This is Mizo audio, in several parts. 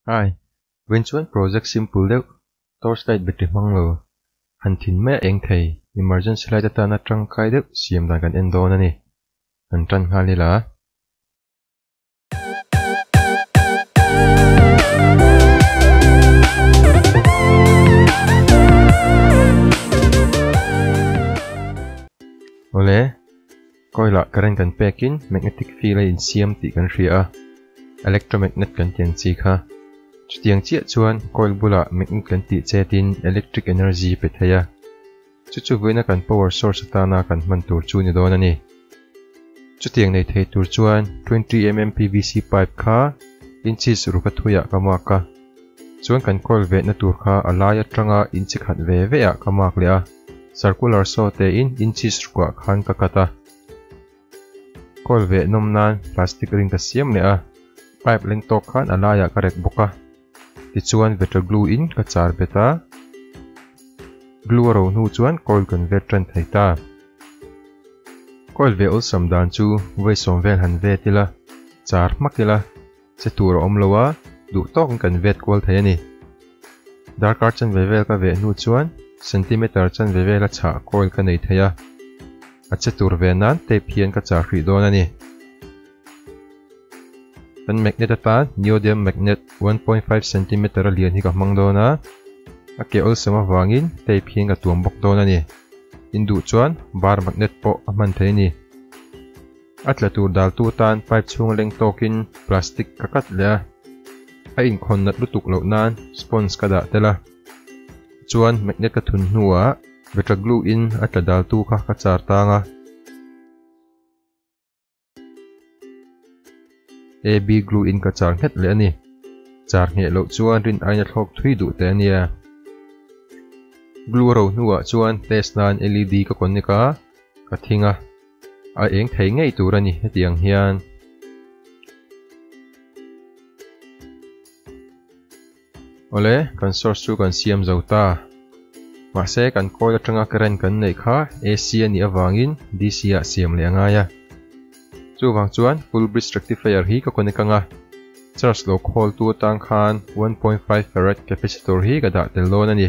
Ai, veng chuan project simple deuh, torch light battery hmang lo, han thin mai a eng thei, emergency light atana tangkai deuh siam dan kan en dawn a ni, han tan nghal ila. Awle. Coil ah current kan pek in magnetic field a insiam tih kan hria a, electromagnet kan ti ang chi kha. Chutiang chiah chuan coil bulah magnet kan tih chet in electric energy pe thei a. Chu chu vuina kan power source atana kan hman tur chu ni dawn a ni. Chutiang nei thei tur chuan twenty mm pvc pipe kha inches ruka thui ah ka mark a, chuan kan coil vehna tur kha a lai atanga inchi khat ve ve ah ka mark leh a. Circular saw tein inches ruah khan ka cut a. Coil veh nawm nan plastic ring ka siam leh a, pipe leng tawk khan a laiah ka rek bawk a, tichuan vetter glue in ka char bet a, glue a ro hnu chuan coil kan ver ṭan thei ta. Coil veh awlsam dan chu vawi sawm vel han vetil a, char hmak ila Che tur a awm lo a, duh tawkin kan vet kual thei a ni. Darkar chanve vel ka veh hnu chuan centimeter chanve vela chhah coil ka nei thei a, a che tur ve nan tape hian ka chah hrih dawn a ni. Kan magnet atan neodymium magnet one point five centimeter a lian hi ka hmang dawn a, a ke awlsam avangin tape hian ka tuam bawk dawn a ni. In duh chuan bar magnet pawh a hman thei a ni. A tla tur daltu tan pipe chhung a leng tawkin plastic ka cut leh a, a inkhawn nat lutuk loh nan sponge ka dah tel a, chuan magnet ka thun hnuah Vector Glue in a tla daltu kha ka char tang a. AB glue in ka char nghet leh a ni. Char ngheh loh chuan rin aina thlawk thui duh teh a nia. Glue ro hnuah chuan test nan LED ka connect a, ka thing a, a eng thei ngei tur a ni heti ang hian. Awle, kan source chu kan siam zo ta. Mahse, kan coil atanga current kan neih kha AC a nih avangin DC-ah siam leh a ngai a. Chuvang chuan full bridge rectifier hi ka connect anga, charge lo khawltu atang khan one point five farad capacitor hi ka dah tel dawn a ni.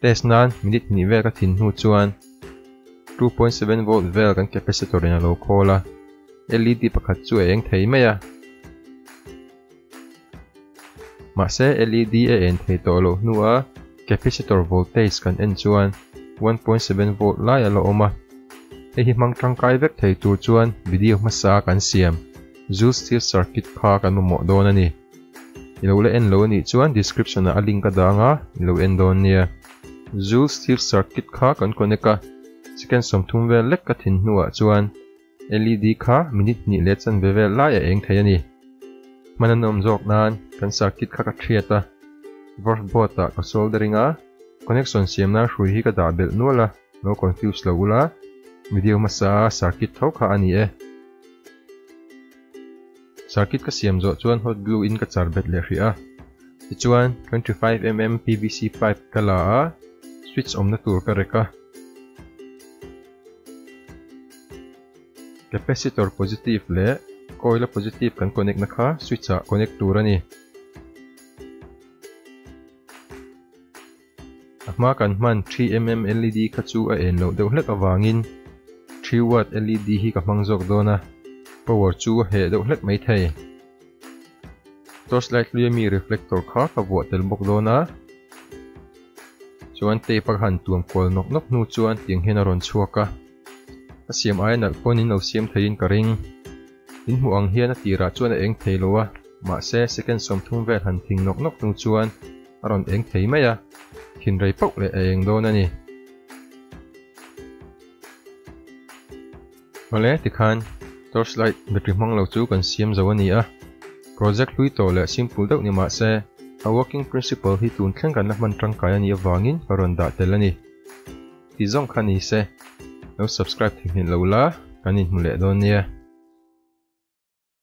Test nan minute hnih vel ka thin hnu chuan two point seven volt vel kan capacitor in a lo khawl a, LED pakhat chu a eng thei mai a. Mahse LED a en thei tawh loh hnu a capacitor voltage kan en chuan one point seven volt lai a la awm a. Hei hi hmang tangkai vek thei tur chuan video hmasa a kan siam, Zulstill circuit kha kan mamawh dawn a ni. I lo la en lo a nih chuan description ah a link a dang a, i lo en dawn nia. Joule Steve circuit kha kan connect a, second sawmthum vel lek ka thin hnuah chuan LED kha minute hnih leh chan ve vel laiah a eng thei a ni. Hman an awm zawk nan kan circuit kha ka thiat a, Verve board ah ka soldering a, connection siam nan hrui hi ka dah belh nual a, lo confuse lo u la, video hmasa a circuit tho kha a ni e. Circuit ka siam zawh chuan hot glue in ka char bet leh hrih a, tichuan twenty five mm pvc pipe ka la a, switch awmna tur ka rek a, capacitor positive leh coil a positive kan connect na kha switch ah connect tur a ni. A hma kan hman three mm led kha chu a en loh deuh hlek avangin three watt led hi ka hmang zawk dawn a, power chu a heh deuh hlek mai thei. Torch light hlui a mi reflector kha ka vuah tel bawk dawn a, chuan tape a ka han tuam kual nawk nawk hnu chuan tiang hian a rawn chhuak a. Ka siam aia nalh pawn in lo siam theihin ka ring. In hmuh ang hian a tirah chuan a eng thei lo a, mahse second sawm thum vel han thing nawk nawk hnu chuan, a rawn eng thei mai a, thinrei pauh leh a eng dawn a ni. Awle tikhan torch light battery hmang lo chu kan siam zo a ni a, project hlui tawh leh simple deuh ni mah se a working principle hi tun thleng kan la hman tangkai a nih avangin ka rawn dah tel a ni. Ti zawng kha ni se lo subscribe thei hmelh lo la kan inhmu leh dawn nia.